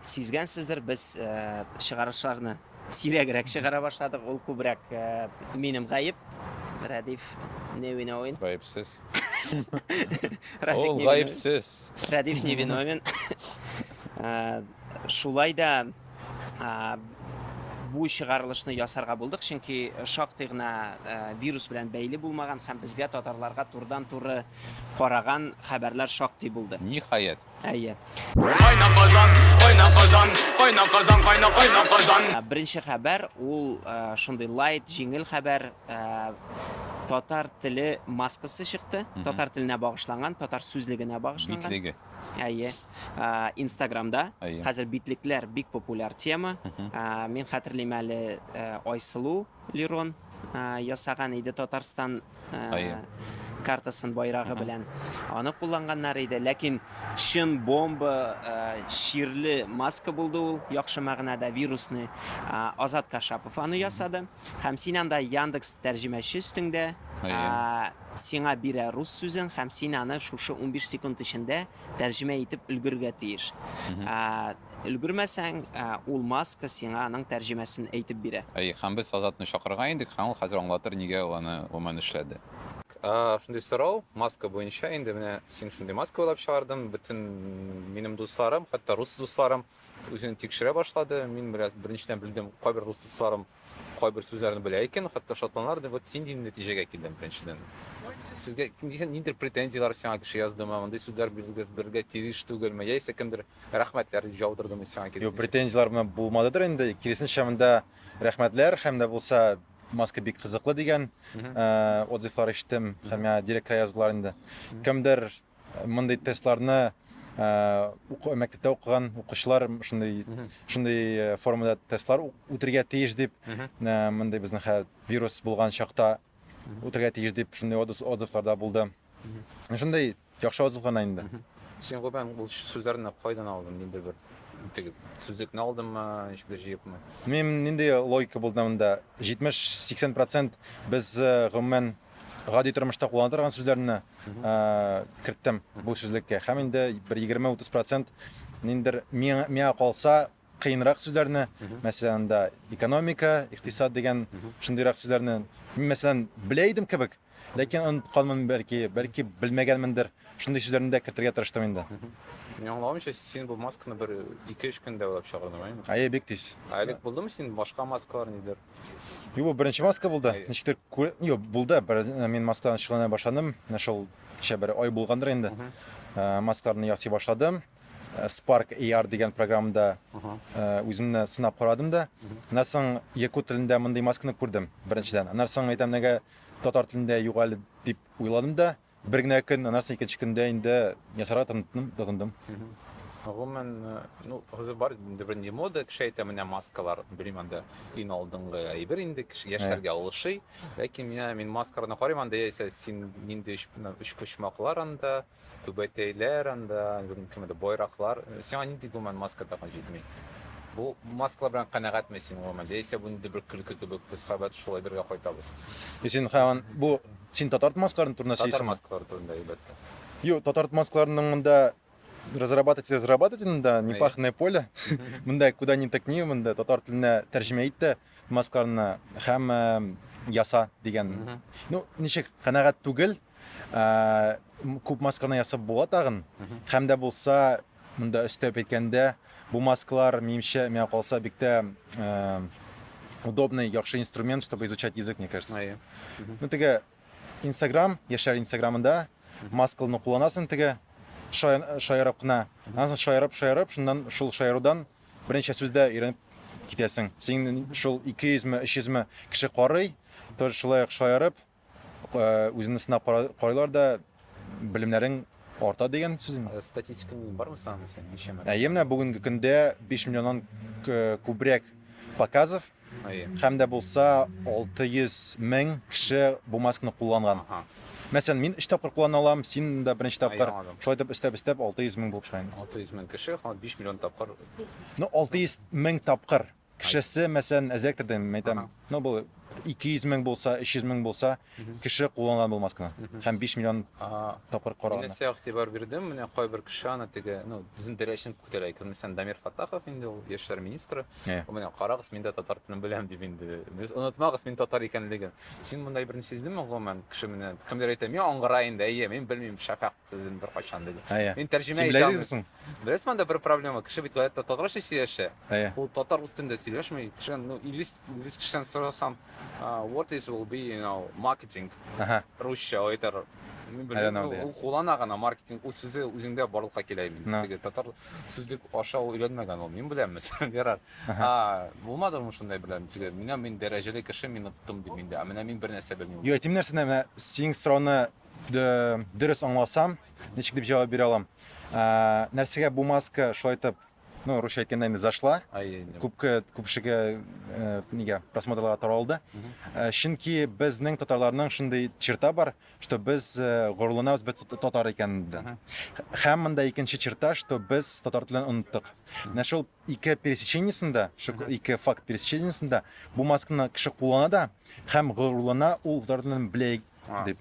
Сизгәнсездер, без чыгарышларны сирәгрәк чыгара башладык. Ул күбрәк минем гаеп. Рәдиф не виновен. Гаепсез. Ул гаепсез. Рәдиф не виновен. Шулай да бу чыгарылышны ясарга булдык, чөнки шактый гына э, вирус белән бәйле булмаган һәм безгә татарларга турдан-туры караган хәбәрләр шактый булды. Ниһаять, Әйе. Кайна Казан, кайна Казан, кайна Казан, кайна кайна Казан. Ә, Беренче хәбәр ул ә, шундый лайт, җиңел хәбәр. ә, Татар теле маскасы чыкты. Мгм. Татар теленә багышланган, татар сүзлегенә багышланган. Битлеге. Әйе. Ә, Инстаграмда Әйе. хәзер битлекләр бик популяр тема. Мгм. Ә, Мин хәтерлим әле ә, Айсылу Лерон ясаган иде Татарстан картасын байрагы белән. Аны кулланганнар иде, ләкин чын бомба чирле маска булды ул, яхшы мәгънәдә вирусны. Азат Кашапов аны ясады. Һәм син анда Яндекс тәрҗемәче өстеңдә. Сиңа бирә рус сүзен һәм син аны шушы 15 секунд эчендә тәрҗемә итеп өлгерергә тиеш. Өлгермәсәң, ул маска сиңа аның тәрҗемәсен әйтеп бирә. Әйе, һәм без Азатны чакырырга идек, һәм ул хәзер аңлатыр, нигә ул аны гомумән эшләде. Шундый сорау, маска буенча, инде менә син шундый маска уйлап чыгардың, бөтен минем дусларым, хәтта рус дусларым үзен тикшерә башлады, мин бераз беренчедән белдем, кайбер рус дусларым Кайбер сүзләрне белә икән, хәтта шатланар иде. Вот син дигән нәтиҗәгә килдем беренчедән. Сезгә нидер ниндер претензияләр сиңа кеше яздымы, мондый сүзләр бирергә бергә тиеш түгелме, яисә кемдер рәхмәтләр дип җаудырдымы сиңа киресенчә? Юк, претензияләр менә булмадыдыр инде. Киресенчә монда рәхмәтләр һәм дә булса маска бик кызыклы дигән отзывлар ишеттем һәм миңа директка яздылар инде. Кемдер Мондый тестларны мәктәптә укыган укучылар шундый шундый формада тестлар үтергә тиеш дип мондый безнең хәл вирус булган чакта үтергә тиеш дип шундый отзывларда булды. Шундый яхшы отзыв гына инде. Син гүбән бу сүзләрне кайдан алдың? Нинди бер теге сүзлекне алдыңмы, ничек дә җыепмы? Мин нинди логика булды монда? 70-80% без гомумән гади тормышта куллана торган сүзләрне керттем бу сүзлеккә һәм инде бер егерме утыз процент ниндер миңа калса кыенрак сүзләрне мәсәлән анда экономика икътисад дигән шундыйрак сүзләрне мин мәсәлән белә идем кебек ләкин онытканмын бәлки бәлки белмәгәнмендер шундый сүзләрне дә кертергә тырыштым инде Мин аңламыйча, син бу масканы бер 2-3 көндә уйлап чыгардың, әйеме? Әйе, бик тиз. Ә элек булдымы син башка маскалар нидер? Юк, беренче маска булды. Ничектер күр... Юк, булды. Бер... Э, мин маскадан шөгыльләнә башладым. Менә шул кичә бер ай булгандыр инде. Э, маскаларны ясый башладым. Э, Spark AR дигән программада үземне сынап карадым да. Аннан соң якут телендә мондый масканы күрдем беренчедән. Аннан соң әйтәм, нигә татар телендә юк әле дип уйладым да. Бер генә көн, аннан соң икенче көндә инде ясарга тотындым. тотындым. Гомумән, э, ну, хәзер бар инде бренди мода, кеше әйтә, менә маскалар, белмим анда, иң алдынгы әйбер инде, кеше яшьләргә алышый. Ләкин менә мин маскаларны карыйм анда, яисә син нинди өч, менә өч почмаклар анда, түбәтәйләр анда, белмим, кемдә байраклар. Э, Сиңа нинди гомумән маска тагын җитми? Бу маскалар белән канәгатьме син гомумән? Яисә бу инде бер көлке кебек, без хәбәт шул әйбергә кайтабыз. Син һаман бу Син татар маскаларын турында сөйлисеңме? Татар маскалары турында, әлбәттә. Юк, татар маскаларының монда разрабатывать разрабатывать монда непаханное поле. Монда куда ни тыкни, монда татар теленә тәрҗемә итте маскаларны һәм яса дигән. Ну, ничек канәгать түгел, күп масканы ясап була тагын. Һәм дә булса Монда өстәп әйткәндә, бу масклар минемчә миңа калса бик тә удобный, яхшы инструмент, чтобы изучать язык, мне кажется. Ае. Ну теге Instagram, яшьләр Instagramында маскалны кулланасың теге шаярып кына. Аннан соң шаярып, шаярып, шуннан шул шаярудан берничә сүздә өйрәнеп китәсең. Син шул 200 ме, 300 ме кеше карый, тоже шулай ук шаярып, Үзеңне сынап карыйлар да белемнәрең арта дигән сүз инде. Статистика бармы санамы син ничәмә? Әйе, менә бүгенге көндә 5 миллионнан күбрәк показов һәм дә булса 600 мең кеше бу маскны кулланган. Мәсәлән, мин 3 тапкыр куллана алам, син дә беренче тапкыр. Шулай итеп өстәп-өстәп 600 мең булып чыга. 600 мең кеше, 5 миллион тапкыр. Ну, 600 мең тапкыр. Кешесе, мәсәлән, әзрәк тә дим, әйтәм, ну бу 200 мең булса, 300 мең булса, кеше кулланган бу масканы. Һәм 5 миллион Ага. тапкыр Мин караган. нәрсә игътибар бирдем, менә кайбер кеше аны теге, ну, безнең дәрәҗәне күтәрә икән. Мәсәлән, Дамир Фатахов инде ул яшьләр министры. Иә. Менә карагыз, мин дә татар телен беләм дип инде. Без онытмагыз мин татар икәнлеген. Син мондай берни сиздеңме гомумән? Кеше менә кемдер әйтә, мин аңгыра инде, әйе, мин белмим, шәфәкъ Сүзен беркайчан диде. Әйе. Мин тәрҗемә Син итә белә алмыйм. идегмсең? Беләсең анда бер проблема, кеше бит гаятә татарча сөйләшә. Әйе. Ул татар үз телендә сөйләшми. Кешедән, ну, инглиз, инглиз кешедән сорасам, а, what is will be, you know, marketing, Әһә. русча, ул әйтер, мин I don't белмим, know, ди. ул куллана гына, маркетинг, ул сүзе үзендә барлыкка килә имин. Ну. Теге татар сүзлек аша ул өйрәнмәгән ул, мин беләм, мәсәлән, ярар. Әһә. А, булмадымы шундай белән, теге, менә мин дәрәҗәле кеше, мин оттым, ди миндә, ә менә мин бернәрсә белмим. Юк, әйтим нәрсәне, менә синең сорауны дөрес аңласам, ничек дип җавап бирә алам? Ә, нәрсәгә бу маска шулай итеп, ну, русча әйткәндә инде зашла. Күпкә күпшегә э, нигә просмотрларга таралды. Э, чөнки безнең татарларның шундый черта бар, что без э, горурланабыз без татар икәнендә. Һәм монда икенче черта, что без татар телен оныттык. Менә шул ике пересечениесендә, шул ике факт пересечениесендә бу масканы кеше куллана да һәм горурлана ул татар телен белә дип.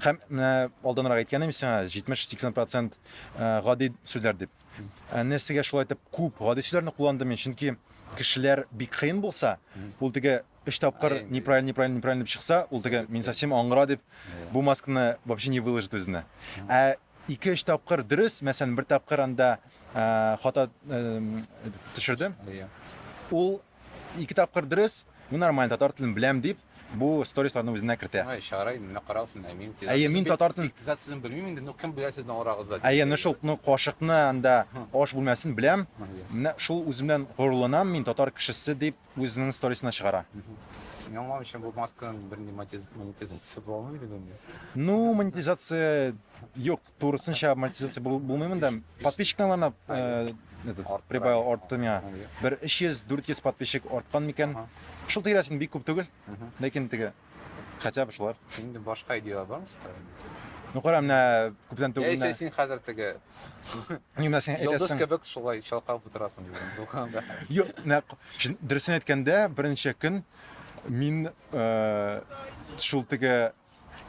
Һәм менә алданрак әйткәнем сиңа 70-80% э, гади сүзләр дип. Ә нәрсәгә шулай итеп күп гади сүзләрне кулландым мин? Чөнки кешеләр бик кыен булса, ул теге өч тапкыр неправильно, неправильно, неправильно дип чыкса, ул теге мин совсем аңгыра дип бу масканы вообще не выложит үзенә. Ә ике өч тапкыр дөрес, мәсәлән, бер тапкыр анда э, хата э, төшердем. Ул ике тапкыр дөрес, мин нормально татар телен беләм дип Бу сторисларны үзенә кертә. Ай, чарай, менә карагыз, менә мин тизат. Әйе, мин татар телен. Тизат сүзен белмим инде, ну кем белә сезнең арагызда. Әйе, ну шул, ну кашыкны анда аш бүлмәсен беләм. Менә шул үземнән горурланам, мин татар кешесе дип үзенең сторисына чыгара. Мин аңламыйм, чын бу масканың бер монетизация булмый дип. Ну, монетизация юк. турысынча монетизация бул- булмый монда. Подписчиктан гына э, этот, Арттыра. прибавил артты миңа. Бер 300-400 подписчик арткан микән. Ага. Шул тирәс инде бик күп түгел, Мгм. ләкин теге хотя бы шулар. Инде башка идеялар бармы сиңа? Ну кара, менә күптән Я түгел исә менә. син хәзер теге Ни менә син йолдыз әйтәсең. кебек шулай чалкалап утырасың дидем булганда. Юк, менә шын- дөресен әйткәндә, берничә көн мин э, шул теге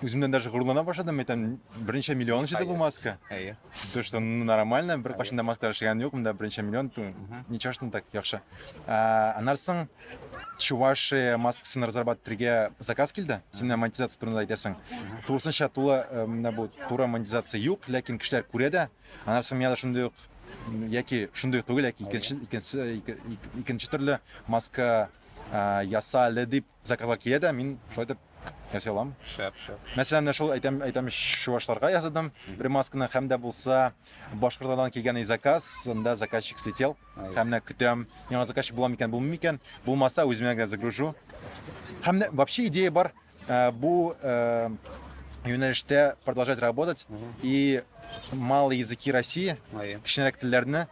Үземнән даже горурлана башладым, әйтәм, берничә миллион җыйды бу маска. Әйе. То, что ну, нормально, бер кашында маска эшләгән юк, монда берничә миллион, то, ничего что так яхшы. А, аннан соң Чувашия маскасын разрабатывать итәргә заказ килде. Син менә монетизация турында әйтәсең. Тулысынча тулы э, менә бу туры монетизация юк, ләкин кешеләр күрә дә. Аннан соң миңа да шундый ук м, яки шундый ук түгел, яки икенче икенче ике- ик- икенче төрле маска а, ясале дип Заказлар килә дә, мин шулай итеп ясый алам. Шәп, шәп. Мәсәлән, менә шул әйтәм, әйтәм чувашларга ясадым бер масканы һәм дә булса Башкортстаннан килгән и заказ, анда заказчик слетел. Һәм менә көтәм, яңа заказчик була микән, булмый микән? Булмаса, үземә генә загружу. Һәм дә вообще идея бар э, бу э, юнәлештә продолжать работать и малые языки России, Ай, кечкенәрәк телләрне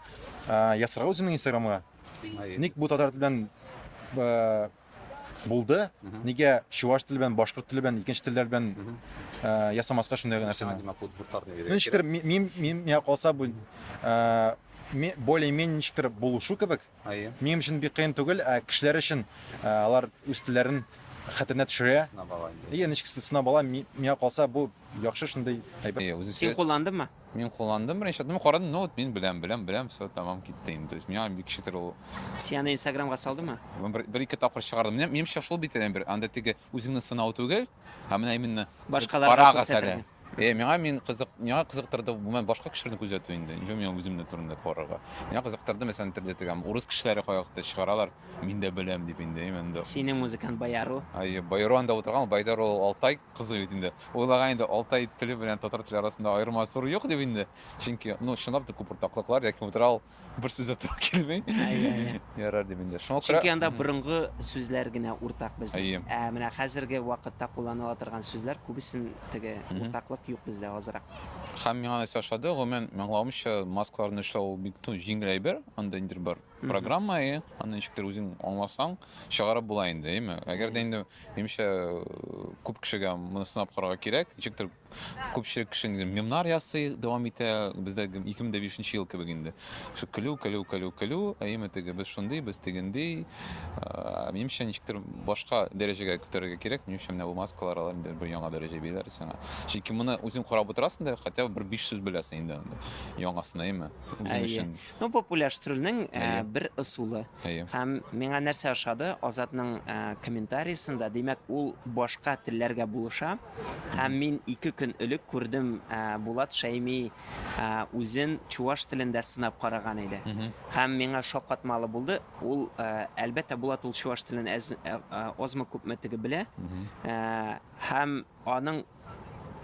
э, ясарга үземнең Инстаграмга. ай. Ник бу татар теле белән э, Булды. Нигә чуваш теле белән, башкорт теле белән, икенче телләр белән э, ясамаска шундый гына нәрсәне? Димәк, бу буртар дип Ну, ничектер, ми- мин, мин, миңа калса, бу э, ми- более-менее ничектер булышу кебек. Ае, Минем өчен бик кыен түгел, ә кешеләр өчен э, алар үз телләрен хәтеренә төшерә. сына бала инде. Иә, ничек сына бала, ми- миңа калса, бу яхшы шундый әйбер. Э, Үзен Син сөйләс- кулландыңмы? Мин кулландым беренче, мин карадым, ну вот мин беләм, беләм, беләм, все, тамам китте инде. То есть миңа бик шитер ул. Син аны Инстаграмга салдымы? Мин бер, бер ике тапкыр чыгардым. Менә минемчә шул бит әле бер, анда теге үзеңне сынау түгел, ә менә именно Башкаларга парагыз күрсәтергә. әле. Э, миңа мин кызык, миңа кызыктырды, мен башка кешеләрне күзәтү инде. Ничә миңа үземне турында карарга. Миңа кызыктырды, мәсәлән, теге теге урыс кешеләре каякта чыгаралар, мин дә беләм дип инде, именно. Синең музыкант Баяру. Ай, Байрон да утырган, Байдар ул Алтай кызы бит инде. Уйлаган иде, Алтай теле белән татар теле арасында аерма зур юк дип инде. Чөнки, ну, чынлап та күп уртаклыклар, ләкин утрал бер сүз дә туры килми. Әйе, әйе. Ярар дип инде. Шуңа күрә... Чөнки анда Мгм. борынгы сүзләр генә уртак безнең. Әйе. Ә менә хәзерге вакытта кулланыла торган сүзләр күбесен теге Мгм. уртаклык юк бездә азрак. Һәм миңа нәрсә ошады, гомумән, мин аңлавымча, маскаларны эшләү ул бик, ну, җиңел әйбер, анда ниндидер бер Программа, әйе, аны ничектер үзең аңласаң, чыгарып була инде, әйеме? Әгәр дә инде, минемчә, күп кешегә моны сынап карарга кирәк. Ничектер күпчелек кеше инде мемнар ясый, дәвам итә. Бездә 2005 ел кебек инде. Шул көлү, көлү, көлү, көлү, әйеме, теге без шундый, без тегендий. Ә, Минемчә, ничектер башка дәрәҗәгә күтәрергә кирәк. Минемчә, менә бу маскалар алар инде бер яңа дәрәҗә бирәләр сиңа. Чөнки моны үзең карап утырасың да, хотя бы бер биш сүз беләсең инде анда яңасын, әйеме? Үзең Әйе. өчен. Ну, популяштрүнең э, Әйе. бер ысулы. Әйе. Һәм миңа нәрсә ошады, Азатның э, комментариясендә, димәк, ул башка телләргә булыша. Һәм мин ике көн элек күрдем, э, Булат Шәйми э, үзен чуваш телендә сынап караган иде. Мгм. Һәм миңа шаккатмалы булды. Ул, э, әлбәттә, Булат ул чуваш телен әз, э, э, азмы күпме теге белә. Мгм. Э, һәм аның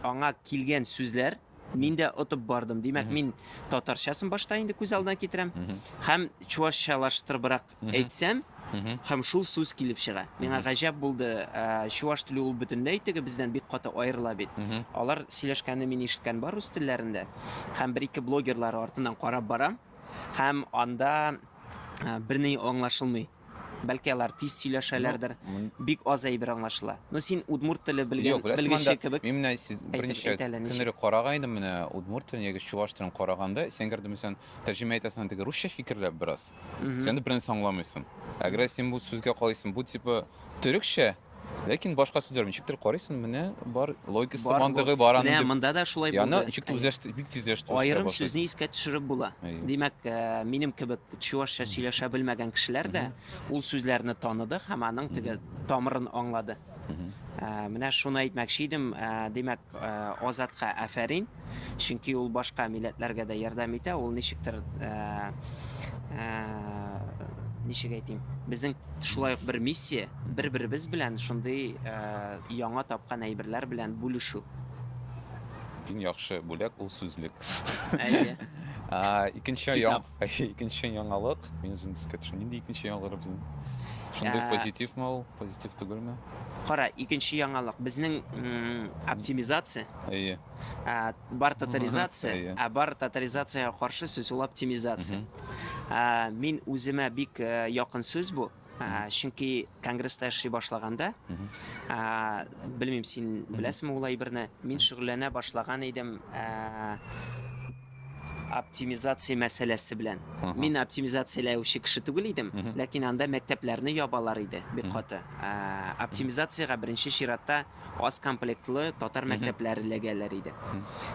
аңа килгән сүзләр Мин дә отып бардым. Димәк, мин татарчасын башта инде күз алдына китерәм. Һәм чуашчалаштырыбрак әйтсәм, һәм шул сүз килеп чыга. Миңа гаҗәп булды, ә, чуаш теле ул бөтенләй теге бездән бик каты аерыла бит. Алар сөйләшкәнне мин ишеткән бар үз телләрендә. Һәм бер-ике блогерлар артыннан карап барам. Һәм анда ә, берни аңлашылмый. Бәлки алар тиз сөйләшәләрдер. Бик аз әйбер аңлашыла. Ну син удмурт теле белгән белгече кебек. Мин менә сез берничә көннәре караган идем менә удмурт телен яки чуаш телен караганда, син гәрдем сен тәрҗемә итәсең анда русча фикерләп бераз. Сен дә бернәрсә аңламыйсың. Әгәр син бу сүзгә калыйсың, бу типа төрекчә Ләкин башка сүзләр ничектер карыйсың, менә бар логикасы, Бар, мантыгы бар. бар аның Менә дип. монда да шулай Яны булды. ничек тә Әйе. үзләште, бик тиз үзләште. үзләшә Аерым башлыйсың. сүзне искә төшереп була. Әйе. Димәк, э, минем кебек чуашча сөйләшә белмәгән кешеләр дә ул сүзләрне таныды һәм аның теге тамырын аңлады. Мгм. Э, Менә шуны әйтмәкче идем. Э, Димәк, Азатка афәрин, чөнки ул башка милләтләргә дә ярдәм итә, ул ничектер, ничек әйтим, безнең шулай ук бер миссия, бер-беребез белән шундый яңа тапкан әйберләр белән бүлешү. Иң яхшы бүләк ул сүзлек. Әйе. Икенче яң. Китап. Икенче яңалык. Мин үзем искә төшерәм. Нинди икенче яңалык безнең? Шундый Ә. позитивмы ул? Позитив түгелме? Кара, икенче яңалык. Безнең м, оптимизация, Әйе. ә, бар татаризация, Әйе. ә бар татаризациягә каршы сүз ул оптимизация. Мгм. Ә, мин үземә бик э, якын сүз бу. Чөнки конгресста эшли башлаганда, белмим, син беләсеңме ул әйберне, мин шөгыльләнә башлаган идем оптимизация мәсьәләсе белән. Мин оптимизацияләүче кеше түгел идем, ләкин анда мәктәпләрне ябалар иде бик каты. Оптимизациягә беренче чиратта аз комплектлы татар мәктәпләре эләгәләр иде.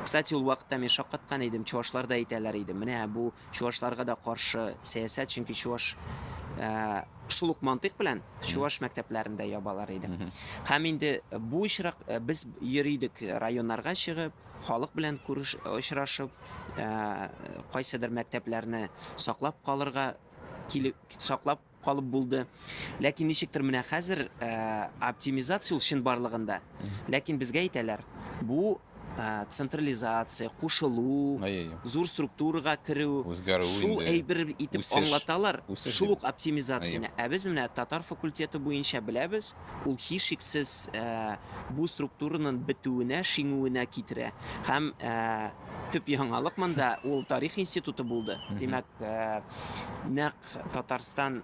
Кстати, ул вакытта мин шаккаткан идем, чувашлар да әйтәләр иде, менә бу Чувашларга да каршы сәясәт, чөнки чуваш шул ук мантыйк белән чуваш мәктәпләрен дә ябалар иде. Һәм инде бу очрак без йөри идек районнарга чыгып, халык белән күреш очрашып, кайсыдыр мәктәпләрне саклап калырга килеп саклап калып булды. Ләкин ничектер менә хәзер оптимизация ул чынбарлыгында. Ләкин безгә әйтәләр, бу централизация, кушылу, зур структурага керү, шул әйбер итеп аңлаталар, шул ук оптимизацияне. Ә без менә татар факультеты буенча беләбез, ул һичшиксез бу структураның бетүенә, шиңүенә китерә. Һәм төп яңалык монда ул тарих институты булды. Димәк, нәкъ Татарстан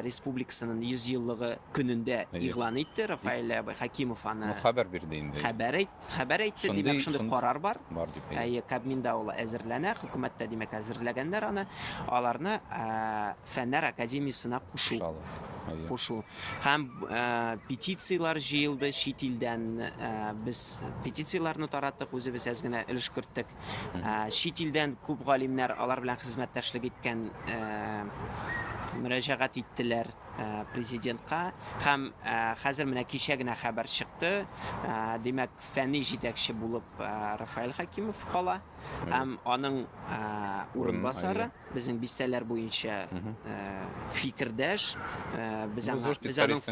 Республикасының 100 еллыгы көнендә игълан итте Рафаэль абый Хәкимов аны. Ну хәбәр бирде инде. Хәбәр әйт, хәбәр әйтте, димәк шундый карар бар. Бар дип. Әйе, Кабминда ул әзерләнә, хөкүмәттә димәк әзерләгәннәр аны. Аларны Фәннәр академиясенә кушу. Кушу. Һәм петицияләр җыелды чит илдән. Без петицияләрне тараттык, үзебез әз генә өлеш керттек. Чит илдән күп галимнәр алар белән хезмәттәшлек иткән мөрәҗәгать иттеләр президентка һәм хәзер менә кичә генә хәбәр чыкты димәк фәнни җитәкче булып Рафаэль Хакимов кала һәм аның урынбасары безнең бистәләр буенча фикердәш без аның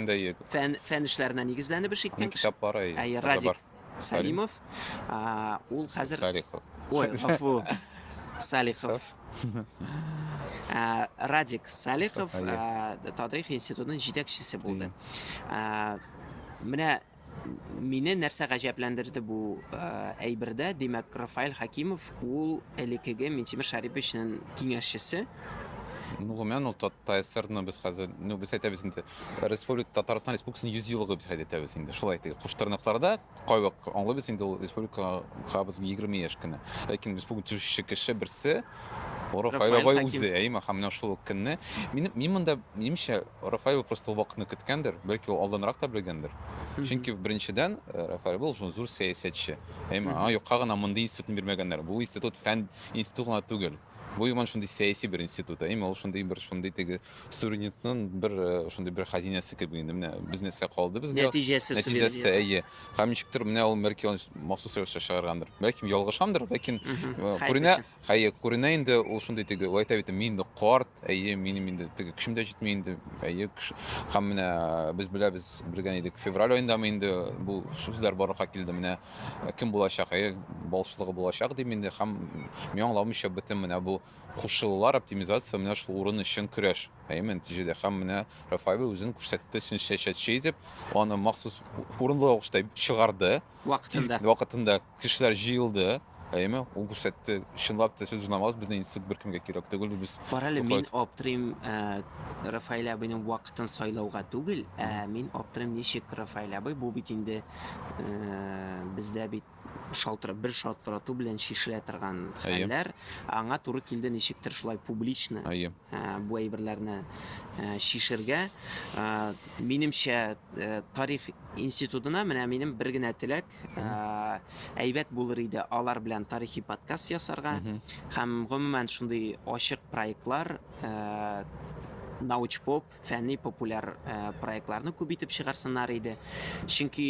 фән фән эшләренә нигезләнеп эш иткән китаплары радик Сәлимов. Ул хәзер Салихов. Ой, гафу. Салихов. Радик Салихов тарих институтының җитәкчесе булды. Менә мине нәрсә гаҗәпләндерде бу әйбердә, димәк, Рафаэль Хакимов ул элекеге Минтимер Шәриповичның киңәшчесе. Ну, гомумән, ул ТСРны без хәзер, ну, без әйтәбез инде, республика Татарстан Республикасының 100 еллыгы дип хәйт итәбез инде. Шулай итик. Куштырныкларда кайвак аңлыйбыз инде ул республика хабыз 20 яшь кенә. Ләкин республика төшүче кеше берсе Рафаэль Файрабай Хәким. үзе, әйе, һәм менә шул ук көнне. Минем мин монда минемчә Рафаэль просто ул вакытны көткәндер, бәлки ул алданрак та белгәндер. Чөнки беренчедән э, Рафаэль был шул зур сәясәтче. Әйе, аңа юкка гына мондый институтны бирмәгәннәр. Бу институт фән институты гына түгел. Бу иман шундый сәяси бер институт, әйе, ул шундый бер шундый теге суверенитетның бер э, шундый бер хәзинәсе кебек инде менә бизнеска калды безгә Нәтиҗәсе нәтиҗәсе суверенитет. әйе һәм ничектер менә ул меркион махсус рәвештә чыгаргандыр бәлкем ялгышамдыр ләкин Мгм. э, Хәер күренә белсен. хәе күренә инде ул шундый теге ул әйтә бит мин инде карт әйе минем инде теге көчем дә җитми инде әйе көч- һәм менә э, без беләбез белгән идек февраль аендамы инде бу сүзләр барлыкка килде менә э, кем булачак әйе балчылыгы булачак дип инде һәм мин аңламыйча бөтен менә бу Кушчылылар оптимизация менә шул урын өчен көрәш. Әйеме, нәтиҗәдә һәм менә Рафаэль үзен күрсәтте чын сәясәтче итеп, аны махсус урынлы рәвештә чыгарды. Вакытында. Вакытында кешеләр җыелды. Әйеме, ул күрсәтте, чынлап та сез узнаваз, безнең институт беркемгә кирәк түгел, без. Карале, мин аптырыйм, Рафаэль абыйның вакытын сайлауга түгел, ә мин аптырыйм, ничек Рафаэль абый, бу бит инде бездә бит шалтырап, бер шалтырату белән чишелә торган хәлләр аңа туры килде ничектер шулай публично э, бу әйберләрне э, чишергә. Э, минемчә, тарих институтына менә минем бер генә теләк, әйбәт булыр иде алар белән тарихи подкаст ясарга һәм гомумән шундый ачык проектлар научпоп фәнни-популяр проектларны күп итеп чыгарсыннар иде. Чөнки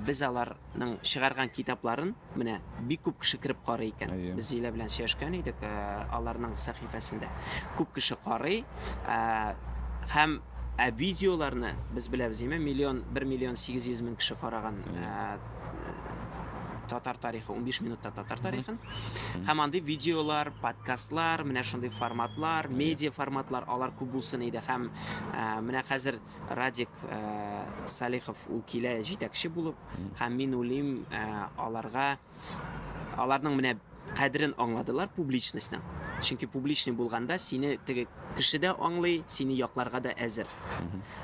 без аларның чыгарган китапларын менә бик күп кеше кереп карый икән. Без Зилә белән сөйләшкән идек, аларның сәхифәсендә күп кеше карый. Һәм ә видеоларны без беләбез, миллион, 1 миллион 800 мең кеше караган. Ә, татар тарихы 15 минутта татар тарихын һәм андый видеолар подкастлар менә шундый форматлар медиа форматлар алар күп булсын иде һәм ә, менә хәзер радик ә, салихов ул килә җитәкче булып һәм мин уйлыйм ә, аларга аларның менә Кадерен аңладылар публичностьның. Чөнки публичный булганда сине теге кеше дә аңлый, сине якларга да әзер.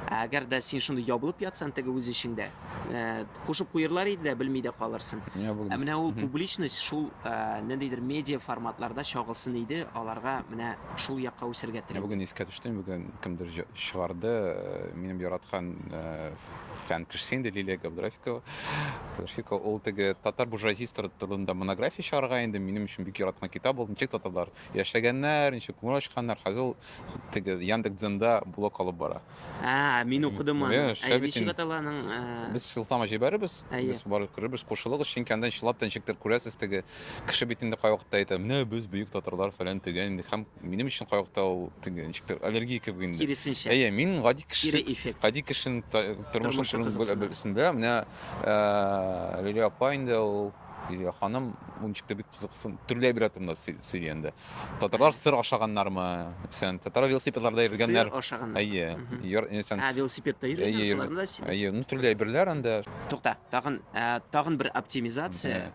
Ә әгәр дә син шундый ябылып ятсаң теге үз эчеңдә, ә, кушып куерлар иде дә, белми дә калырсың. Ә Ябылдыйсың. менә ул публичность шул, ә, ниндидер медиа форматларда чагылсын иде, аларга менә шул якка үсергә Менә телим. бүген искә төште, бүген кемдер җы- чыгарды, э, минем яраткан, э, фән кешесе инде Лилия Габдрафикова. Габдрафикова ул теге татар буржуазиясе турында монография чыгарга инде минем өчен бик яраткан китап ул. Ничек татарлар яшәгәннәр, ничек күңел ачканнар. Хәзер ул теге Яндекс.Дзенда блог алып бара. А, мин укыдым аны. Э, Ә ничек атала аның? Э? Без сылтама җибәрербез. Без барып күрербез, кушылыгыз, чөнки анда чылап та ничектер күрәсез теге кеше бит инде кайвакытта әйтә, менә без бөек татарлар фәлән төгән инде һәм Минем өчен кайвакытта ул теге ничек тә аллергия кебек инде. Киресенчә. Әйе, мин гади кеше. Кире эффект. Гади кешенең тормышын күрү беләсендә, менә Лилия апа инде ул Лилия ханым ул ничек тә бик кызыксын. Төрле әйбер турында сөйли инде. Татарлар сыр ашаганнармы? Исән татар велосипедларда йөргәннәр. Сыр ашаганнар. Әйе. Йор исән. Ә велосипедта йөргәннәр шуларны да сөйли. Әйе, ну төрле әйберләр инде. Тукта, тагын тагын бер оптимизация.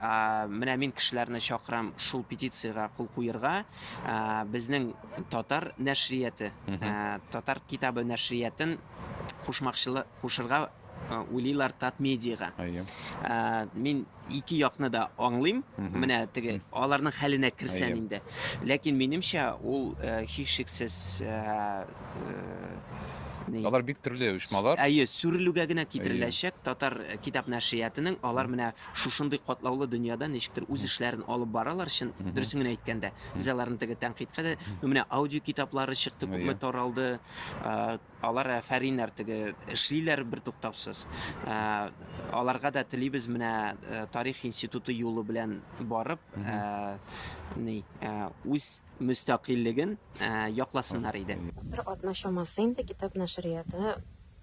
Менә мин кешеләрне чакырам шул петициягә кул куерга. Безнең татар нәшрияты, татар китабы нәшриятын кушмакчылы кушырга уйлыйлар Татмедиага. Мин ике якны да аңлыйм. Менә теге аларның хәленә керсән инде. Ләкин минемчә ул һичшиксез Алар бик төрле оешмалар. Әйе, сүрелүгә генә китереләчәк татар китап нәшриятының. Алар менә Шушындый катлаулы дөньяда ничектер үз эшләрен алып баралар, чын, дөресен генә әйткәндә. Без аларны теге тәнкыйтькә дә, ну, менә аудиокитаплары чыкты, күпме Әйе. таралды. Ә, Алар әфәриннәр теге эшлиләр бертуктаусыз. Ә, Аларга да телибез менә ә, тарих институты юлы белән барып, ә, ни, ә, үз мөстәкыйльлеген ә, якласыннар иде. Бер атна чамасы инде китап нәшрияты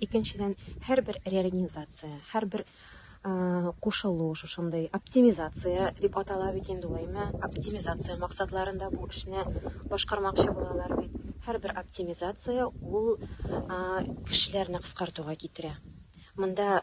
Икенчедән, һәрбер реорганизация, һәрбер кушылу, шушындый оптимизация дип атала бит инде ул, әйме, оптимизация максатларында бу эшне башкармакчы булалар бит. Һәрбер оптимизация ул кешеләрне кыскартуга китерә. Монда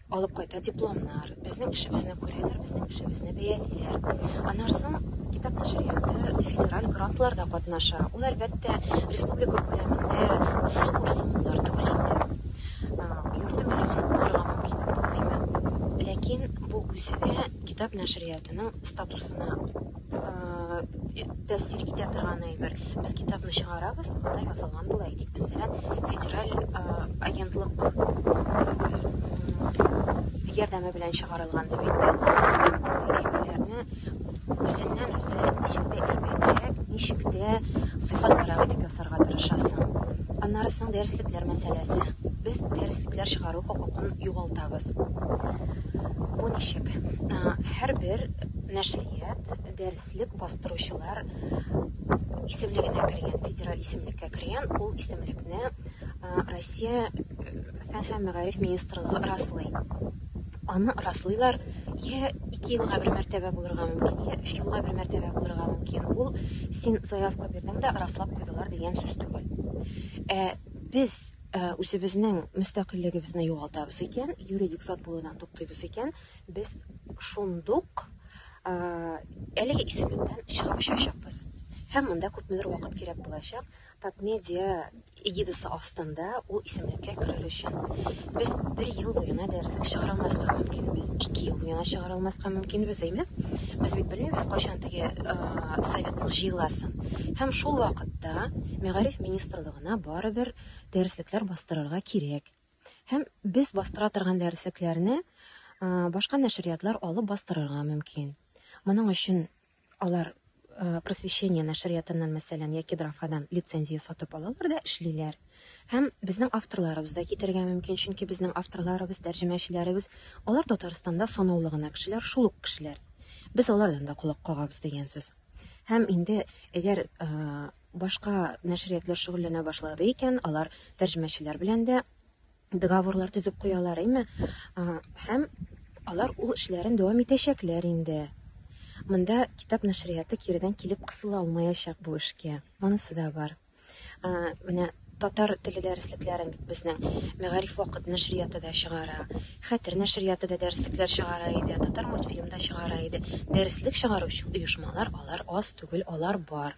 алып кайта дипломнар, безнең эшебезне күрәләр, безнең эшебезне бәялиләр. Аннан соң китап нәшрияты федераль грантларда катнаша. Ул, әлбәттә, республика күләмендә зур суммалар түгел инде. Ярты миллион булырга мөмкин түгелме? Ләкин бу үзе дә китап нәшриятының статусына тәэсир итә торган әйбер. Без китапны чыгарабыз, анда язылган була, әйтик, мәсәлән, федераль агентлык ярдәме белән чыгарылган дип әйтте. Үзеннән үзе ничек тә әйбәтрәк, ничек тә сыйфатлырак итеп ясарга тырышасың. Аннары соң дәреслекләр мәсьәләсе. Без дәреслекләр чыгару хокукын югалтабыз. Бу ничек? Һәрбер нәшер Әдәбият, дәреслек бастыручылар исемлегенә кергән, федераль исемлеккә кергән, ул исемлекне Россия фән һәм мәгариф министрлыгы раслый. Аны раслыйлар, я ике елга бер мәртәбә булырга мөмкин, я өч елга бер мәртәбә булырга мөмкин. Ул син заявка бирдең дә раслап куйдылар дигән сүз түгел. Ә без үзебезнең мөстәкыйльлегебезне югалтабыз икән, юридик зат булудан туктыйбыз икән, Без шундук әлеге исемлектән чыгып очачакбыз. Һәм монда күпмедер вакыт кирәк булачак Татмедиа эгидасы астында ул исемлеккә керер өчен. Без бер ел буена дәреслек чыгара алмаска мөмкинбез, ике ел буена чыгара алмаска мөмкинбез, әйме? Без бит белмибез, кайчан теге Советның җыеласын. Һәм шул вакытта Мәгариф министрлыгына барыбер дәреслекләр бастырырга кирәк. Һәм без бастыра торган дәреслекләрне башка нәшриятлар алып бастырырга мөмкин. Моның өчен алар просвещение нәшриятыннан мәсәлән яки драфадан лицензия сатып алалар да эшлиләр һәм безнең авторларыбыз да китергә мөмкин чөнки безнең авторларыбыз тәрҗемәчеләребез алар татарстанда санаулы гына кешеләр шул ук кешеләр без алардан да колак кагабыз дигән сүз һәм инде әгәр Башка нәшриятлар шөгыльләнә башлады икән, алар тәрҗемәчеләр белән дә договорлар төзеп куялар, әйме? Һәм алар ул эшләрен дәвам итәчәкләр инде. Монда китап нәшрияты киредән килеп кысыла алмаячак бу эшкә. Монысы да бар. Менә татар теле дәреслекләрен бит безнең Мәгариф вакыт нәшрияты да чыгара. Хәтер нәшрияты да дәреслекләр чыгара иде, Татар мультфильм да чыгара иде. Дәреслек чыгаручы оешмалар алар аз түгел, алар бар.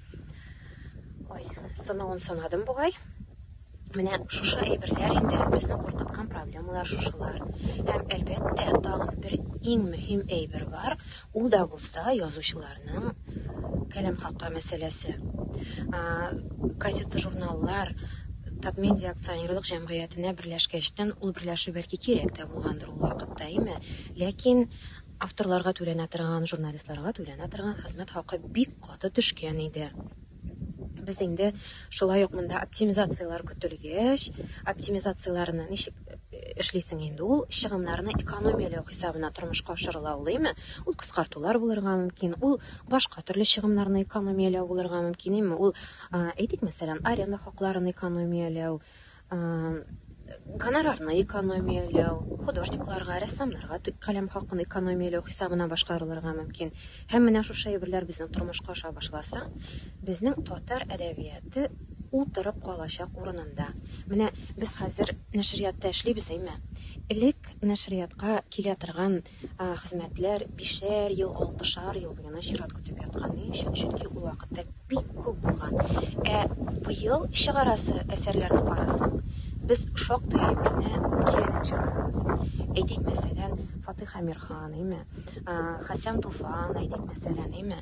Ой, сынавын санадым бугай. Менә шушы әйберләр инде безне куркыткан проблемалар шушылар. Һәм әлбәттә, тагын бер иң мөһим әйбер бар, ул да булса язучыларның каләм хакы мәсьәләсе. Газета-журналлар Татмедиа акционерлык җәмгыятенә берләшкәчтен ул берләшү бәлки кирәк тә булгандыр ул вакытта, әйме? Ләкин Авторларга түләнә торган, журналистларга түләнә торган хезмәт хакы бик каты төшкән иде. Без инде шулай ук монда оптимизацияләр көтелгәч, оптимизацияләрне ничек эшлисең инде ул, чыгымнарны экономияләү хисабына тормышка ашырыла алыймы? Ул кыскартулар булырга мөмкин, ул башка төрле чыгымнарны экономияләү булырга мөмкин, әмма ул, әйтик, мәсәлән, аренда хакларын экономияләү, гонорарны экономияләү, художникларга, рәссамнарга каләм хакын экономияләү хисабына башкарылырга мөмкин. Һәм менә шушы әйберләр безнең тормышка аша башласа, безнең татар әдәбияты утырып калачак урынында. Менә без хәзер нәшриятта эшлибез, әйме? Элек нәшриятка килә торган хезмәтләр бишәр ел, алтышар ел буена чират көтеп яткан. Ни өчен? Чөнки ул вакытта бик күп булган. Ә быел чыгарасы әсәрләрне карасаң, без шактый әйберне киредән чыгарабыз. Әйтик, мәсәлән, Фатыйх Әмирхан, әйме? Хәсән Туфан, әйтик, мәсәлән, әйме?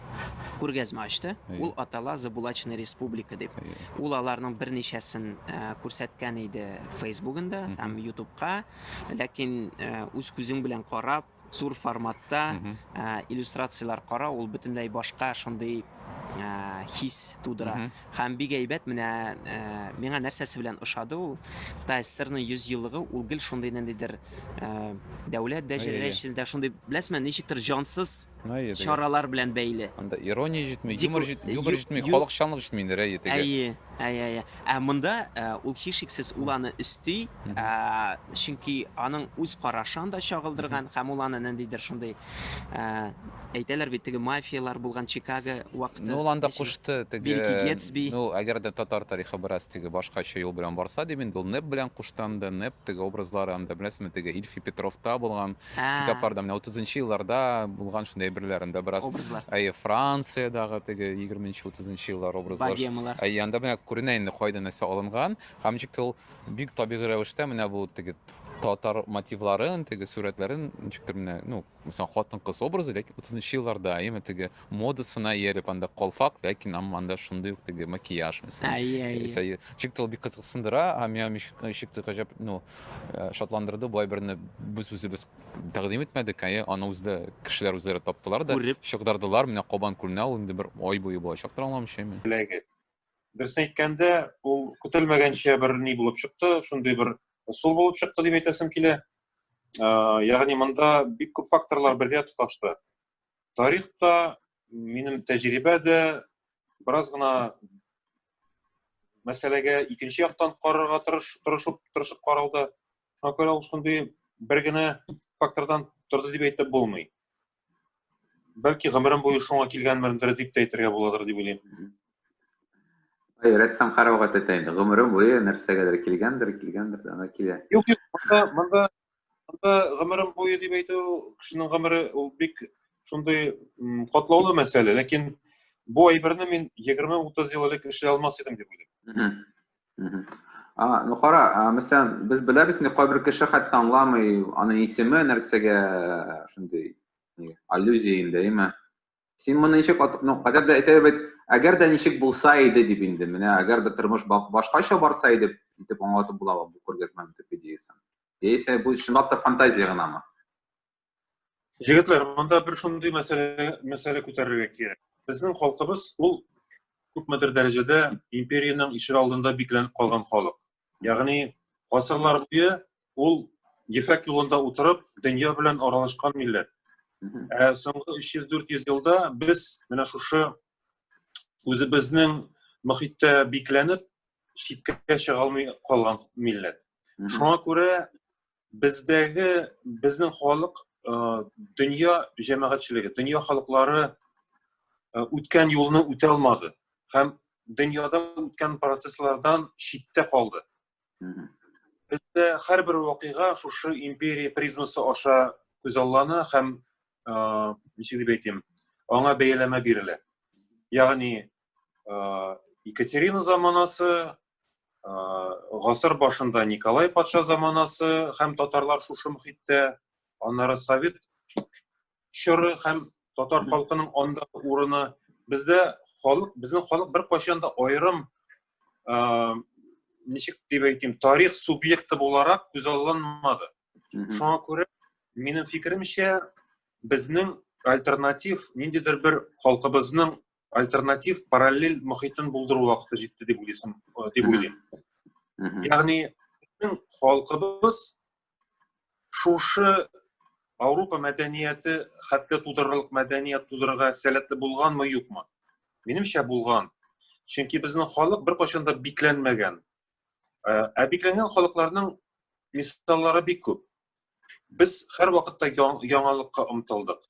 күргәзмә ачты. Ул атала Забулачная республика дип. Ул аларның берничәсен э, күрсәткән иде Фейсбугында һәм Ютубка. Ләкин э, үз күзең белән карап, зур форматта э, иллюстрацияләр кара, ул бөтенләй башка шундый хис тудыра. Һәм бик әйбәт менә миңа нәрсәсе белән ошады ул. Тайсырның 100 еллыгы ул гел шундый ниндидер дәүләт дәрәҗәсендә шундый, беләсезме, ничектер җансыз Әйе, теге. чаралар белән бәйле. Анда ирония җитми, Дику- юмор җит- юмор ю- җитми, ю- халыкчанлык җитми инде, әйе, теге. Әйе, әйе, әйе. Ә монда ә, ул һичшиксез ул аны өсти, Мгм. ә, чөнки аның үз карашы анда чагылдырган һәм ул аны ниндидер шундый ә, әйтәләр бит теге мафиялар булган Чикаго вакыты. Ну, ул анда ничек- кушты теге. Билки Гетсби. Ну, әгәр дә татар тарихы бераз теге башкача юл белән барса, дип инде ул Нэп белән кушты анда, Нэп теге образлары анда, беләсезме, теге Ильфи Петровта булган, Ә. Китапларда, менә утызынчы елларда булган шундый әйберләр, анда бераз. Образлар. Әйе, Франциядагы теге егерменче, утызынчы еллар образлар. Богемалар. Әйе, анда менә күренә инде кайда нәрсә алынган. Һәм ничек тә ул бик табигый рәвештә менә бу теге татар мотивларын, теге сурәтләрен ничектер менә, ну, хатын-кыз образы, ләкин утызынчы елларда, әйеме, теге модасына ияреп анда калфак ләкин ам анда шундый ук теге макияж мәсәлән Әйе, әйе. Исә и- чик тел бик кызыксындыра һәм миңа мич- чик тел гаҗәп ну э, шатландырды болай берне без үзебез тәкъдим итмәдек әйе аны үзе дә кешеләр үзләре таптылар да Күреп. чыгдырдылар менә кабан күленә ул инде бер ай буе булачактыр аңламыйчамы Теләге. Дөресен әйткәндә, ул көтелмәгәнчә бер ни булып чыкты, шундый бер ысул булып чыкты дип әйтәсем килә. Э, Ягъни монда бик күп факторлар бергә тоташты. Тарих та, минем тәҗрибә дә бераз гына мәсьәләгә икенче яктан карарга тырыш, тырышып, тырышып каралды. Шуңа күрә ул шундый бер генә фактордан торды дип әйтеп булмый. Бәлки гомерем буе шуңа килгәнмендер дип тә әйтергә буладыр дип уйлыйм. Әй, рәссам карауга тәтә инде. Гомере буе нәрсәгәдер килгәндер, килгәндер, ана килә. Юк, юк, монда, монда Анда гомерем буе дип әйтү, кешенең гомере ул бик шундый катлаулы мәсьәлә, ләкин бу әйберне мин 20-30 ел элек эшли алмас идем дип уйлыйм. А, ну кара, мәсәлән, без беләбез инде кайбер кеше хәтта аңламый аның исеме нәрсәгә шундый аллюзия инде, әйме? Син моны ничек атып, ну, кадәр дә әйтә бит, әгәр дә ничек булса иде дип инде, менә әгәр дә тормыш башкача барса иде, итеп аңлатып була бу күргәзмәнең төп идеясын. Яисә бу чынлап та фантазия гынамы? Җегетләр, монда бер шундый мәсьәлә мәсьәлә күтәрергә кирәк. Безнең халкыбыз ул күпмедер дәрәҗәдә империянең ишегалдында бикләнеп калган халык. Ягъни гасырлар буе ул ефәк юлында утырып, дөнья белән аралашкан милләт. Ә соңгы 300-400 елда без менә шушы үзебезнең мөхиттә бикләнеп, читкә чыга алмый калган милләт. Шуңа күрә бездәге безнең халык э, дөнья җәмәгатьчелеге дөнья халыклары э, үткән юлны үтә алмады һәм дөньяда үткән процесслардан читтә калды бездә һәрбер вакыйга шушы империя призмасы аша күзаллана һәм э, ничек дип әйтим аңа бәяләмә бирелә ягъни Екатерина заманасы, гасыр башында Николай патша заманасы һәм татарлар шушы мөхиттә, аннары совет чоры һәм татар халкының анда урыны. Бездә халык, безнең халык бер кайчан да аерым ничек дип әйтим, тарих субъекты буларак күз алынмады. Шуңа күрә минем фикеремчә, безнең альтернатив ниндидер бер халкыбызның альтернатив параллель мөхитен булдыру вакыты җитте дип уйлыйсың э, дип уйлыйм ягъни безнең халкыбыз шушы Ауропа мәдәнияте хәтта тудырырлык мәдәният тудырырга сәләтле булганмы юкмы минемчә булган чөнки безнең халык беркайчан да бикләнмәгән Ә бикләнгән халыкларның мисаллары бик күп. Без һәр вакытта яңалыкка омтылдык.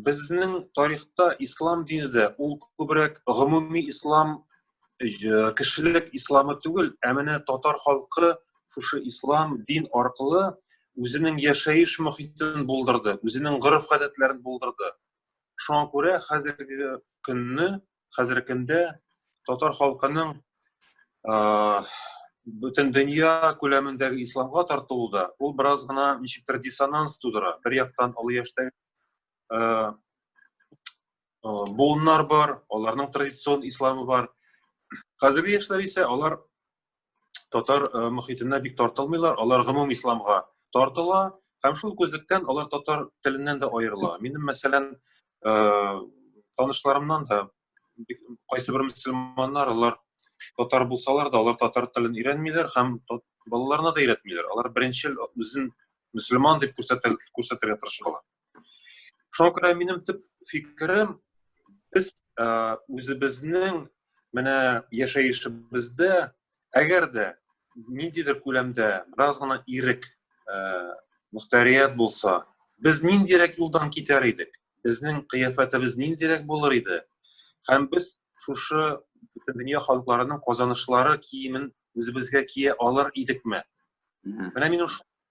Безнең тарихта ислам дине дә ул күбрәк гомуми ислам кешелек исламы түгел, ә менә татар халкы шушы ислам дин аркылы үзенең яшәеш мөхитен булдырды, үзенең гореф-гадәтләрен булдырды. Шуңа күрә хәзерге көнне хәзерге көндә татар халкының бөтен дөнья күләмендәге исламга тартылу да ул бераз гына ничектер диссонанс тудыра бер яктан олы яшьтәге буыннар бар аларның традицион исламы бар хәзерге яшьләр исә алар татар э, мөхитенә бик тартылмыйлар, алар гомум исламга тартыла һәм шул күзлектән алар татар теленнән дә аерыла. Минем мәсәлән, э, танышларымнан да кайсы бер мөселманнар алар татар булсалар да, алар татар телен өйрәнмиләр һәм балаларына да өйрәтмиләр. Алар беренчел үзен мөселман дип күрсәтергә тырышалар. шуңа күрә минем төп фикерем без үзебезнең менә яшәешебездә әгәр дә ниндидер күләмдә бераз гына ирек мөхтәрият булса без ниндирәк юлдан китәр идек безнең кыяфәтебез ниндирәк булыр иде һәм без шушы бөтен дөнья халыкларының казанышлары киемен үзебезгә кия алыр идекме менә мин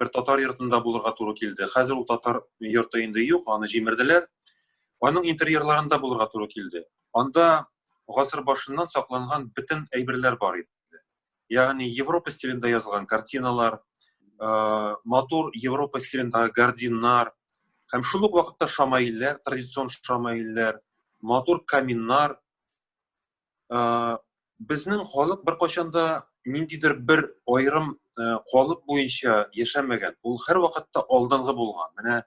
бер татар йортында булырга туры килде. Хәзер ул татар йорты инде юк, аны җимерделәр. Аның интерьерларында булырга туры килде. Анда гасыр башыннан сакланган бөтен әйберләр бар иде. Ягъни Европа стилендә язылган картиналар, э, матур Европа стилендәге гардиннар һәм шул ук вакытта шамаилләр, традицион шамаилләр, матур каминнар, безнең халык беркайчан да ниндидер бер аерым калып буенча яшәмәгән ул һәрвакытта алдынгы булган менә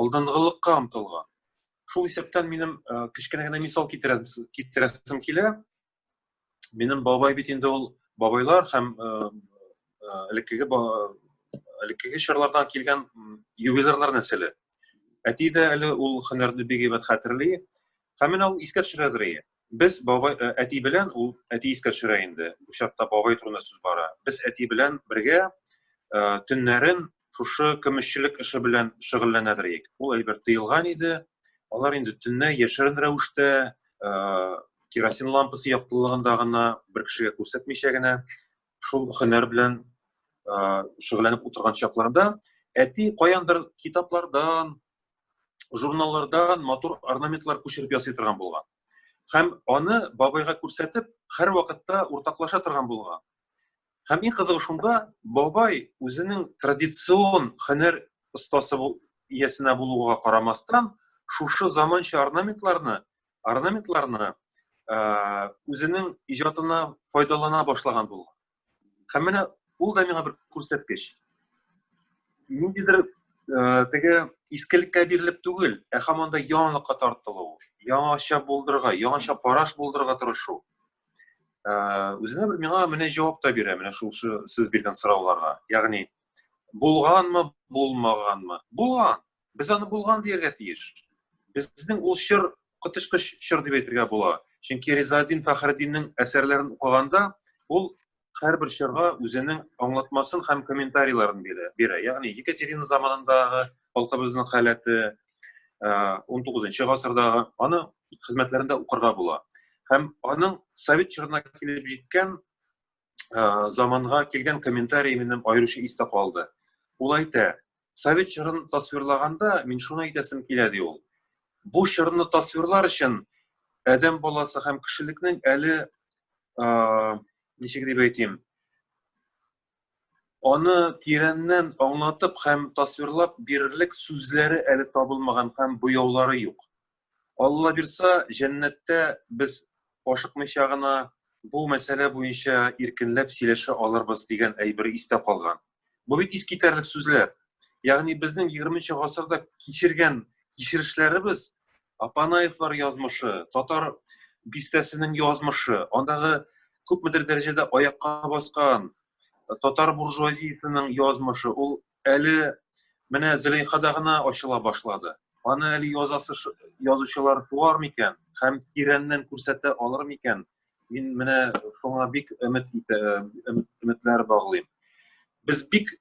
алдынгылыкка омтылган шул исәптән минем кечкенә генә мисал китерәсем килә минем бабай бит инде ул бабайлар һәм элеккеге элеккеге чорлардан килгән ювелирлар нәселе әти дә әле ул һөнәрне бик әйбәт хәтерли һәм менә ул искә төшерә Без бабай, э, әти белән, ул әти искә төшерә инде, бу чакта бабай турында сүз бара. Без әти белән бергә э, төннәрен шушы көмешчелек эше белән шөгыльләнәдер идек. Ул әйбер тыелган иде. Алар инде төннә яшерен рәвештә э, керосин лампасы яктылыгында гына бер кешегә күрсәтмичә генә шул хөнәр белән шөгыльләнеп утырган чакларда әти каяндыр китаплардан, журналлардан матур орнаментлар күчереп ясый торган булган. Һәм аны бабайга күрсәтеп, һәр вакытта уртаклаша торган булган. Һәм иң кызыгы шунда, бабай үзенең традицион хөнәр остасы иясенә булуга карамастан, шушы заманча орнаментларны, орнаментларны үзенең иҗатына файдалана башлаган булган. Һәм менә ул да миңа бер күрсәткеч. Ниндидер э, теге искелеккә бирелеп түгел, ә һаман да яңалыкка тартылу, яңача булдырырга, яңача караш булдырырга тырышу. Э, үзенә бер миңа менә җавап та бирә, менә шул сез биргән сорауларга. Ягъни булганмы, булмаганмы? Булган. Без аны булган дияргә тиеш. Безнең ул чор коточкыч чор дип әйтергә була. Чөнки Ризаэддин Фәхреддиннең әсәрләрен укыганда, ул һәрбер чорга үзенең аңлатмасын һәм комментарийларын бирә. бирә. Ягъни Екатерина заманындагы халкыбызның халәте, 19 гасырдагы аны хезмәтләрендә укырга була. Һәм аның совет чорына килеп җиткән ә, заманга килгән комментарий минем аеруча истә калды. Ул әйтә, совет чорын тасвирлаганда мин шуны әйтәсем килә ди ул. Бу чорны тасвирлар өчен адәм баласы һәм кешелекнең әле ә, ничек дип әйтим, аны тирәннән аңлатып һәм тасвирлап бирерлек сүзләре әле табылмаган һәм буяулары юк. Алла бирса, җәннәттә без ашыкмыйча гына бу мәсьәлә буенча иркенләп сөйләшә алырбыз дигән әйбер истә калган. Бу бит искитәрлек сүзләр. Ягъни безнең 20 гасырда кичергән кичерешләребез, Апанаевлар язмышы, татар бистәсенең язмышы, андагы күпмедер дәрәҗәдә аякка баскан татар буржуазиясенең язмышы, ул Әле менә Зөләйхада гына ачыла башлады. Аны әле язасы язучылар туар микән һәм тирәннән күрсәтә алыр микән? Мин менә шуңа бик өмет итә, өметләр баглыйм. Без бик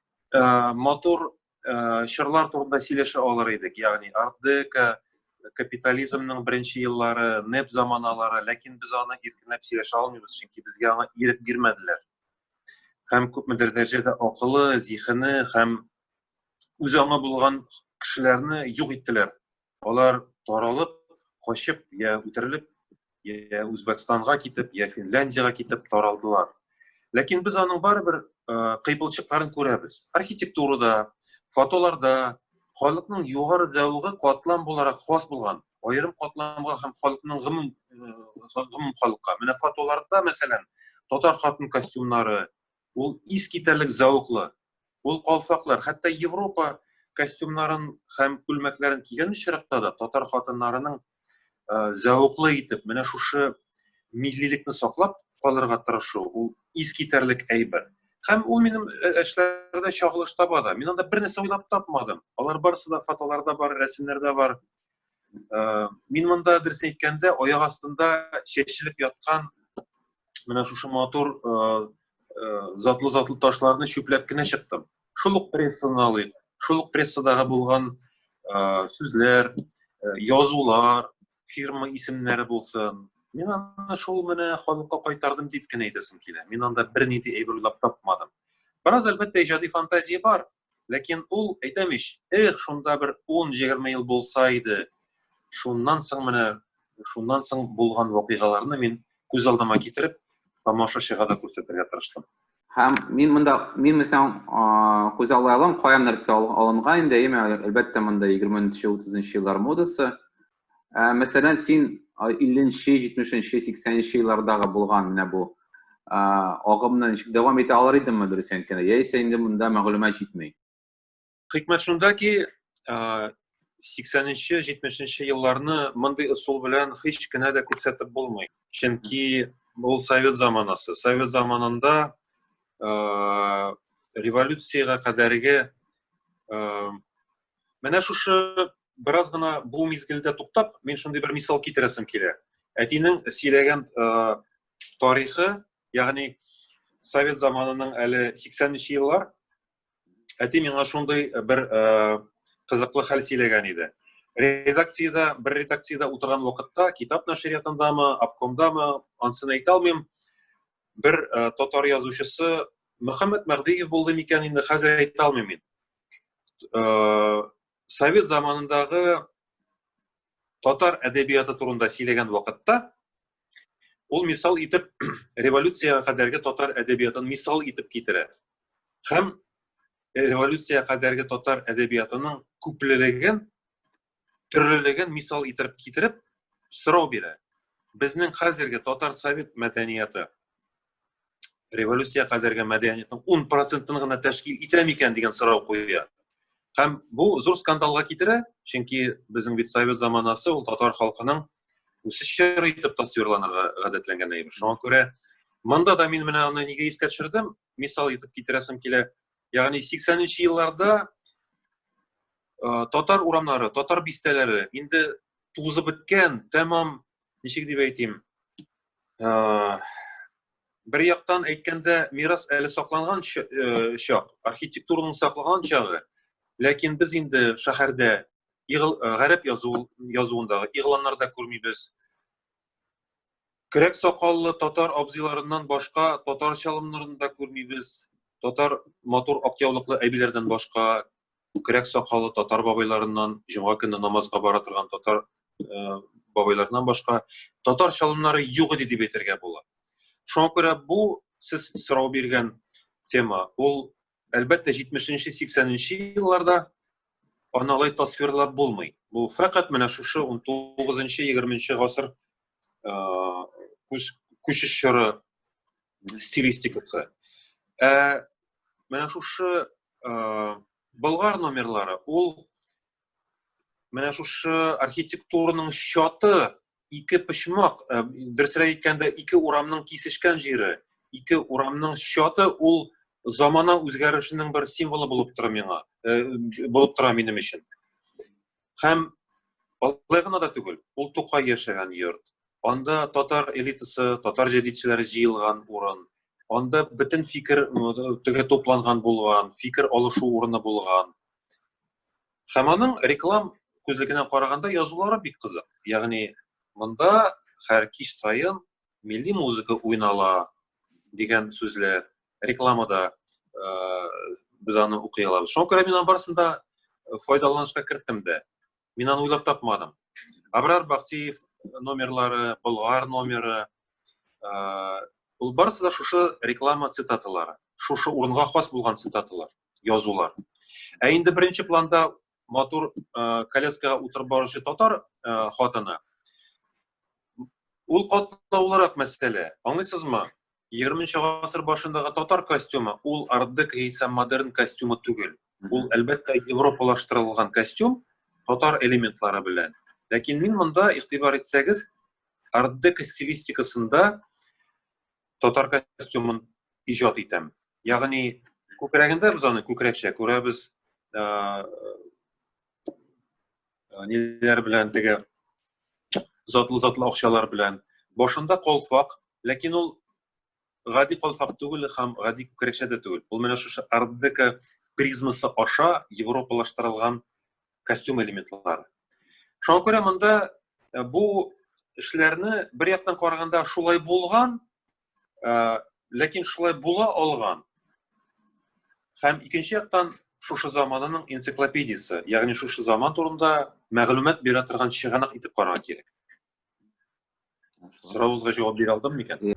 матур чырлар турында сөйләшә алыр идек, ягъни ардека, капитализмның беренче еллары, неп заманалары, ләкин без аны иркенләп сөйләшә алмыйбыз, чөнки безгә аңа ирек бирмәделәр. һәм күпмедер дәрәҗәдә акылы, зихене һәм үзе аңа булган кешеләрне юк иттеләр. Алар таралып, качып, я үтерелеп, я Үзбәкстанга китеп, я Финляндиягә китеп таралдылар. Ләкин без аның барыбер кыйпылчыкларын күрәбез. Архитектурада, фотоларда халыкның югары зәвыгы катлам буларак хас булган. аерым катламга һәм халыкның гомум гомум халыкка менә фотоларда мәсәлән татар хатын костюмнары ул ис китәрлек зәвыклы ул калфаклар хәтта европа костюмнарын һәм күлмәкләрен кигән очракта да татар хатыннарының зәвыклы итеп менә шушы миллилекне саклап калырга тырышу ул ис китәрлек әйбер һәм ул минем эшләрдә чагылыш таба да мин анда бер нәрсә уйлап тапмадым алар барысы да фотоларда бар рәсемнәрдә бар Э, мин монда дөресен әйткәндә аяк астында чәчелеп яткан менә шушы матур э, э, затлы затлы ташларны чүпләп кенә чыктым шул ук прессаны алыйк шул ук прессадагы булган сүзләр язулар фирма исемнәре булсын мин аны шул менә халыкка кайтардым дип кенә әйтәсем килә мин анда бернинди әйбер уйлап тапмадым бераз әлбәттә иҗади фантазия бар Ләкин ул, әйтәм ич, эх, шунда бер ун-егерме ел булса иде. Шуннан соң менә, шуннан соң булган вакыйгаларны мин күз алдыма китереп, тамашачыга да күрсәтергә тырыштым. Һәм мин монда, мин мисаң, күз аллайлым, каян нәрсә алынга инде, әйме, әлбәттә, монда 20-нче, 30-нчы еллар модасы, Ә, мәсәлән, син 50-нче, 70-нче, 80-нче еллардагы булган менә бу агымны ничек дәвам итә алар идеңме дөрес әйткәндә, яисә инде монда мәгълүмат җитми? Хикмәт шунда ки, 80-нче, 70-нче елларны мондый ысул белән һич кенә дә күрсәтеп булмый. Чөнки ул совет заманасы. Совет заманында революциягә кадәрге Менә шушы бераз гына бу мизгелдә туктап, мин шундый бер мисал китерәсем килә. Әтинең сөйләгән тарихы, ягъни совет заманының әле 80 нче еллар, әти миңа шундый бер кызыклы хәл сөйләгән иде. Редакциядә, бер редакциядә утырган вакытта, китап нәшриятындамы, обкомдамы, ансын әйтә алмыйм, бер татар язучысы Мөхәммәд Мәгъдиев булды микән инде, хәзер әйтә алмыйм мин. э, совет заманындагы татар әдәбияты турында сөйләгән вакытта ул мисал итеп революцияга кадәрге татар әдәбиятын мисал итеп китерә һәм революция кадәрге татар әдәбиятының күплелеген төрлелеген мисал итеп китереп сорау бирә безнең хәзерге татар совет мәдәнияты революция кадәрге мәдәниятнең ун процентын гына тәшкил итә микән дигән сорау куя һәм бу зур скандалга китерә чөнки безнең бит совет заманасы ул татар халкының үсеш чоры итеп тасвирланырга гадәтләнгән әйбер шуңа күрә монда да мин менә аны нигә искә төшердем мисал итеп китерәсем килә Ягъни 80 нче елларда э, татар урамнары, татар бистәләре инде тузып беткән, тәмам, ничек дип әйтим, э, бер яктан әйткәндә мирас әле сакланган э, чак, архитектураның саклаган чагы, ләкин без инде шәһәрдә гарәп язу язуындагы игъланнарда күрмибез. Көрәк сакаллы татар абзыйларыннан башка татар чалымнарын да күрмибез. Татар матур актяулыклы әбиләрдән башка күкрәк сакалы татар бабайларыннан җомга көне намазга бара торган татар э, бабайларыннан башка татар чалымнары юк иде дип әйтергә була шуңа күрә бу сез сорау биргән тема ул Әлбәттә, 70-80-нче елларда аны алай тасвирлап булмый. Бу фәкать менә шушы 19-20 гасыр күчеш чоры стилистикасы. Ә менә шушы Болгар номерлары ул менә шушы архитектураның чаты ике почмак э, дөресрәк әйткәндә ике урамның кисешкән җире ике урамның чаты ул замана үзгәрешенең бер символы булып тора миңа э, булып тора минем өчен һәм алай гына да түгел ул тукай яшәгән йорт анда татар элитасы татар җәдидчеләре җыелган урын анда бөтен фикер теге тупланган булган фикер алышу урыны булган Һәм аның реклам күзлегенә караганда язулары бик кызык. Ягъни монда һәр кич саен милли музыка уйнала дигән сүзләр рекламада без аны укый алабыз. Шуңа күрә мин аның барысын да файдаланышка керттем дә. Мин аны уйлап тапмадым. Абрар Бахтиев номерлары, Болгар номеры, ул барысы да шушы реклама цитаталары, шушы урынга хас булган цитаталар. язулар. Ә инде беренче планда матур э, коляскага утырып баручы татар э, хатыны. Ул катлаулырак мәсьәлә. Аңлыйсызмы? 20-нче гасыр башындагы татар костюмы ул ардык яисә модерн костюмы түгел. Ул әлбәттә европалаштырылган костюм татар элементлары белән. Ләкин мин монда игътибар итсәгез, ардык стилистикасында татар костюмын иҗат итәм. Ягъни күкрәгендә без аны күкрәкчә күрәбез. Ниләр белән теге затлы-затлы акчалар белән. Башында колфак, ләкин ул гади колфак түгел һәм гади күкрәкчә дә түгел. Ул менә шушы ардека призмасы аша европалаштырылган костюм элементлары. Шуңа күрә монда э, бу эшләрне бер яктан караганда шулай булган, э, ләкин шулай була алган. Һәм икенче яктан шушы заманының энциклопедиясе, ягъни шушы заман турында мәгълүмат бирә торган чыганак итеп карарга кирәк. Сорауыгызга җавап бирә алдым микән?